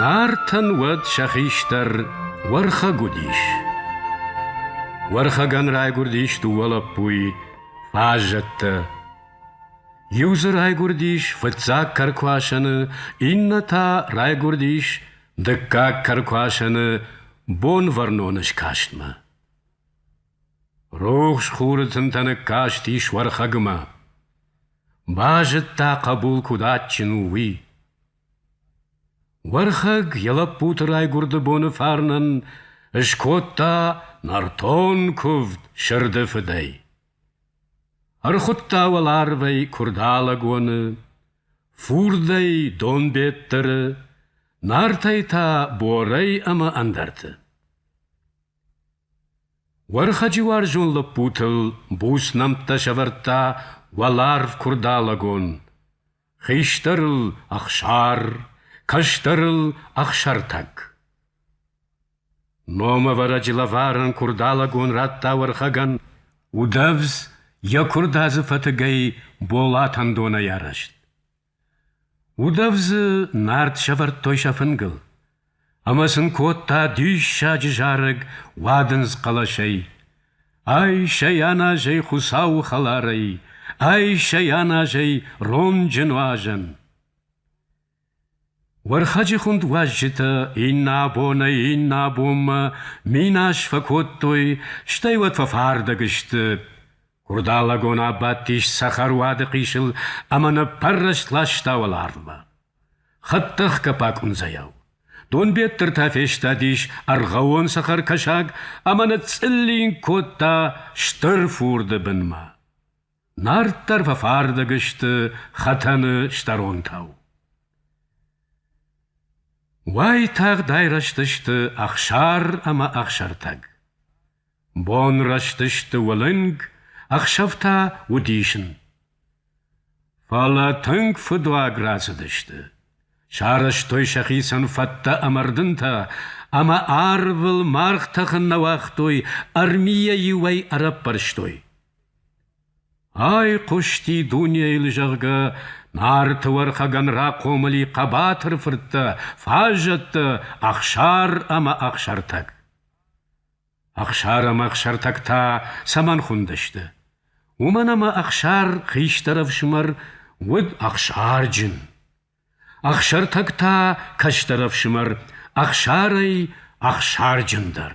Нартӕн уӕд сӕ хистӕр Уӕрхӕг уыдис. Уӕрхӕгӕн райгуырдис дыууӕ лӕппуйы, фаззӕттӕ. Иу дзы райгуырдис фыццаг кӕркуасӕны, иннӕ та райгуырдис дыккаг кӕркуасӕны, Бонвӕрноны скастмӕ. Рухс хуры тынтӕ ныккастис Уӕрхӕгмӕ. Базыдта, хъӕбул куыд адджын у, уый. Уӕрхӕг йӕ лӕппуты райгуырды боны фарнӕн скодта нӕртон куывд сырды фыдӕй. Ӕрхуыдта уӕларвӕй Куырдалӕгоны, фурдӕй Донбеттыры, Нартӕй та Борӕй ӕмӕ ӕндӕрты. Уӕрхӕджы уарзон лӕппутыл буц нӕмттӕ сӕвӕрдта уӕларв Куырдалӕгон. Хистӕрыл — Ӕхсар, кӕстӕрыл — Ӕхсӕртӕг. Номӕвӕрӕджы лӕварӕн Куырдалӕгон радта Уӕрхӕгӕн удӕвдз йӕ куырдадзы фӕтыгӕй Болатӕн донӕй арӕзт. Удӕвдзы нард сӕвӕрдтой сӕ фынгыл, ӕмӕ сын кодта диссаджы зарӕг уадындз хъӕлӕсӕй: Ай-сӕ йӕн азӕй Хуыцауы хӕларӕй, Ай-сӕ йӕн азӕй ронджы нуазӕн. Уӕрхӕджы хуынд уазджытӕ иннӕ абонӕй иннӕ абонмӕ минас фӕкодтой, стӕй уӕд фӕфардӕг сты. Курдалӕгон абадтис цӕхӕруады хъисыл ӕмӕ ныппӕррӕст ласта уӕларвмӕ. Хӕдтӕхгӕ пакъуындзӕйау. Донбеттыртӕ фестадис ӕргъӕвон цӕхӕркӕсаг ӕмӕ ныцъцъыллинг кодта стыр фурды бынмӕ. Нарддӕр фӕфардӕг сты хӕтӕны стӕронтау. Уайтагъд айрӕзтысты Ӕхсар ӕмӕ Ӕхсӕртӕг. Бон рӕзтысты уылынг, ӕхсӕв та удисын. Фӕлӕ тынг фыдуаг рацыдысты. Сарӕзтой сӕхицӕн фӕдтӕ ӕмӕ рдынтӕ, ӕмӕ арвыл маргъ тӕхын нӕ уагътой, армийӕ иуӕй ӕрӕппӕрстой. Айхъуысти дунейыл, зӕгъгӕ, Нарты Уӕрхӕгӕн рахъомыли хъӕбатыр фырттӕ, фаззӕттӕ, Ӕхсар ӕмӕ Ӕхсӕртӕг. Ӕхсар ӕмӕ Ӕхсӕртӕг та цӕмӕн хуындысты? Уымӕн ӕмӕ Ӕхсар, хистӕр ӕфсымӕр, уыд ӕхсарджын. Ӕхсӕртӕг та кӕстӕр ӕфсымӕр, Ӕхсарӕй ӕхсарджындӕр.